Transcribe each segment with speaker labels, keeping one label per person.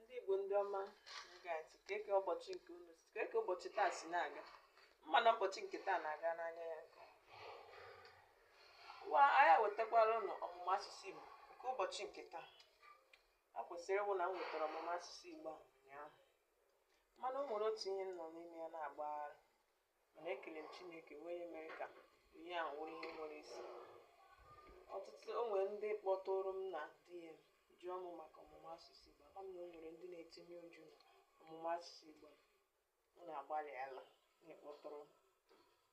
Speaker 1: ndị Igbo ndị ọma gaji kee ka ụbọchị nke unu kee ka ụbọchị taa si na-aga m ma na ụbọchị nke taa na-aga n'anya ya nke wa anyị wetakwara unu ọmụmụ asụsụ Igbo nke ụbọchị nke taa a kwesịrị ịwụ na m wetara ọmụmụ asụsụ Igbo a ụnyaahụ mana o nwere otu ihe m nọ n'ime ya na-agbagharị mana ekele m chineke wụ onye mere ka ihe a wụrụ ihe nwere isi ọtụtụ o nwere ndị kpọtụrụ m na DM jụọ m maka ọmụmụ asụsụ igbo ama m na o nwere ndị na-etinye uchu na ọmụmụ asụsụ igbo m na-agbalị ala na-akpọtụrụ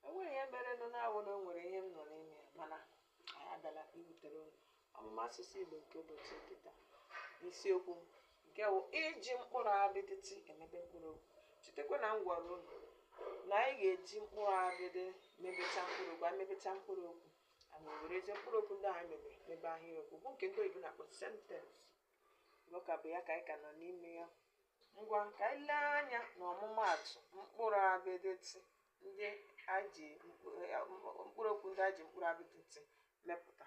Speaker 1: m o nweghị ihe mere nụ na-awụ na o nwere ihe m nọ n'ime ya mana anyị abịala iwetere unu ọmụmụ asụsụ Igbo nke ụbọchị nke taa n'isiokwu nke bụ iji mkpụrụ abịdị T emebe mkpụrụ okwu chetakwa na m gwara unu na anyị ga-eji mkpụrụ abịdị mebecha mkpụrụ okwu anyị mebecha mkpụrụ okwu anyị werezie mkpụrụ okwu ndị anyị mebe mebe ahịrịokwu bụ nke ndị oyibo na-akpọ sentence ọ ka bụ ya ka anyị ka nọ n'ime ya Ngwa ka anyị lee anya n'ọmụmaatụ mkpụrụ abịdị T ndị a ji mkpụ- eh, mkpụ- mkpụrụ okwu ndị a ji mkpụrụ abịdị T mepụta.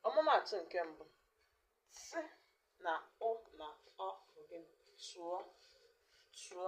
Speaker 1: Ọmụmaatụ nke mbụ T na Ụ na Ọ bụ gịnị? Tụọ tụọ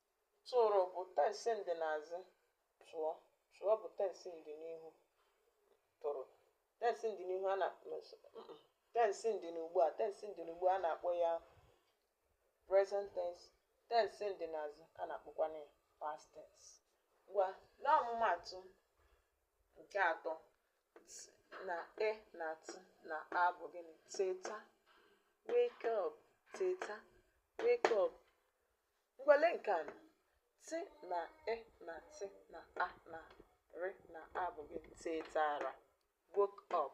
Speaker 1: Tụrụ bụ tensi ndịnazụ, tụọ, tụọ bụ tensi ndịnihu, tụrụ. Tensi ndịnihu a na tensi ndịnugbu a tensi ndịnugbu a na-akpọ ya present tense, tensi ndịnazụ a na-akpọkwanụ ya past tense. Ngwa lee ọmụmaatụ nke atọ T na E na T na A bụ gịnị? Teta, wake up, teta, wake up, Ngwa lee nke anọ T na E na T na A na R na A bụ gịnị tetara woke up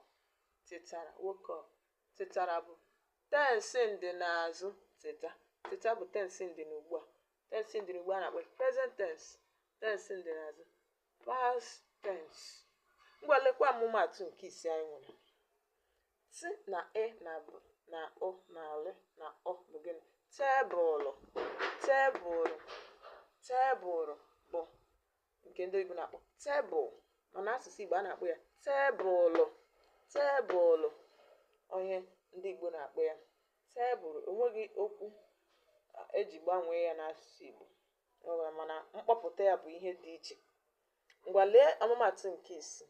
Speaker 1: tetara woke up tetara bụ tensi ndị n'azụ teta teta bụ tensi ndị n'ugbu a tensi ndị n'ugbu a na-akpọ present tense tensi ndị n'azụ past tense ngwa lekwa ọmụmaatụ nke ise anyị nwere T na E na B na Ụ na L na Ụ bụ gịnị? Tebụlụ, tebụlụ, tebụlụ bụ nke ndị oyibo na-akpọ table mana asụsụ Igbo a na-akpọ ya tebụlụ, tebụlụ ihe ndị Igbo na-akpọ ya tebụlụ o nweghị okwu e ji gbanwee ya n'asụsụ Igbo mana mkpọpụta ya bụ ihe dị iche ngwa lee ọmụmaatụ nke isii